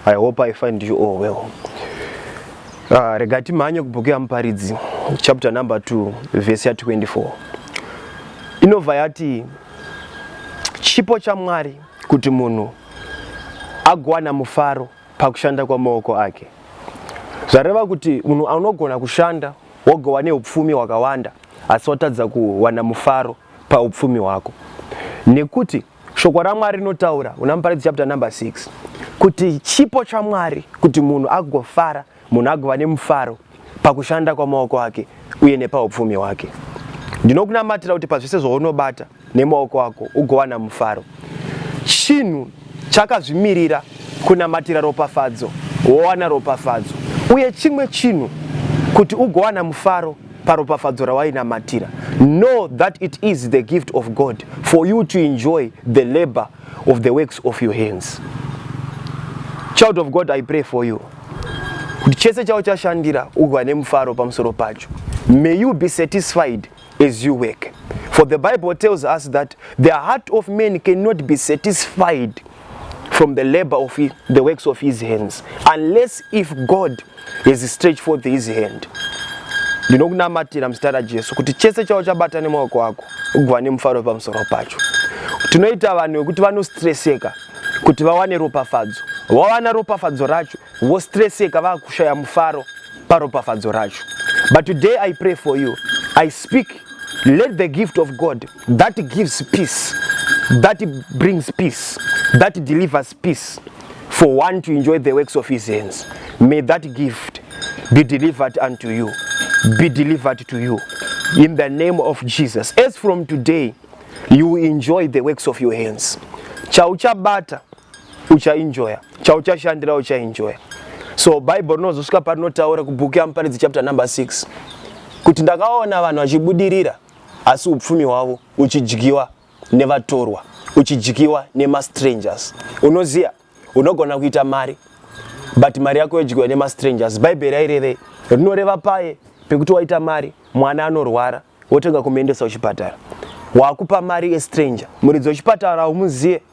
I hope I find you all well. Uh, rega timhanye kubhuku yaMuparidzi chapter number 2 verse ya 24 inobva yati chipo chaMwari kuti munhu agowana mufaro pakushanda kwamaoko ake. Zvareva kuti munhu anogona kushanda wogova neupfumi hwakawanda asi watadza kuwana mufaro paupfumi hwako nekuti Shoko raMwari rinotaura una Muparidzi chapter number 6 kuti chipo chaMwari kuti munhu agofara, munhu agova nemufaro pakushanda kwamaoko ake uye nepaupfumi hwake. Ndinokunamatira kuti pazvese zvaunobata nemaoko ako ugowana mufaro. Chinhu chakazvimirira kunamatira ropafadzo, wowana ropafadzo. Uye chimwe chinhu kuti ugowana mufaro paropafadzo rawainamatira know that it is the gift of god for you to enjoy the labor of the works of your hands child of god i pray for you kuti chese chavo chashandira uva nemufaro pamusoro pacho may you be satisfied as you work for the bible tells us that the heart of man cannot be satisfied from the labor of his, the works of his hands unless if God has stretched forth his hand ndinokunamatira muzita rajesu kuti chese chavo chabata nemaoko ako uguva nemufaro pamusoro pacho tinoita vanhu vekuti vanostreseka kuti vawane ropafadzo vawana ropafadzo racho vostreseka vakushaya mufaro paropafadzo racho but today i pray for you i speak let the gift of god that gives peace that brings peace that delivers peace for one to enjoy the works of his hands may that gift be delivered unto you be delivered to you in the name of Jesus as from today you enjoy the works of your hands chauchabata uchaenjoya chauchashandira uchaenjoya so bible rinozosvika parinotaura kubhuku yamuparidzi chapter number 6 kuti ndakaona vanhu vachibudirira asi upfumi hwavo uchidyiwa nevatorwa uchidyiwa nemastrangers unoziya unogona kuita mari but mari yako yodyiwa nemastrangers bhaibheri rairevei rinoreva paye pekuti waita mari mwana anorwara wotanga kumuendesa kuchipatara wakupa mari yestranger muridzi wechipatara haumuzive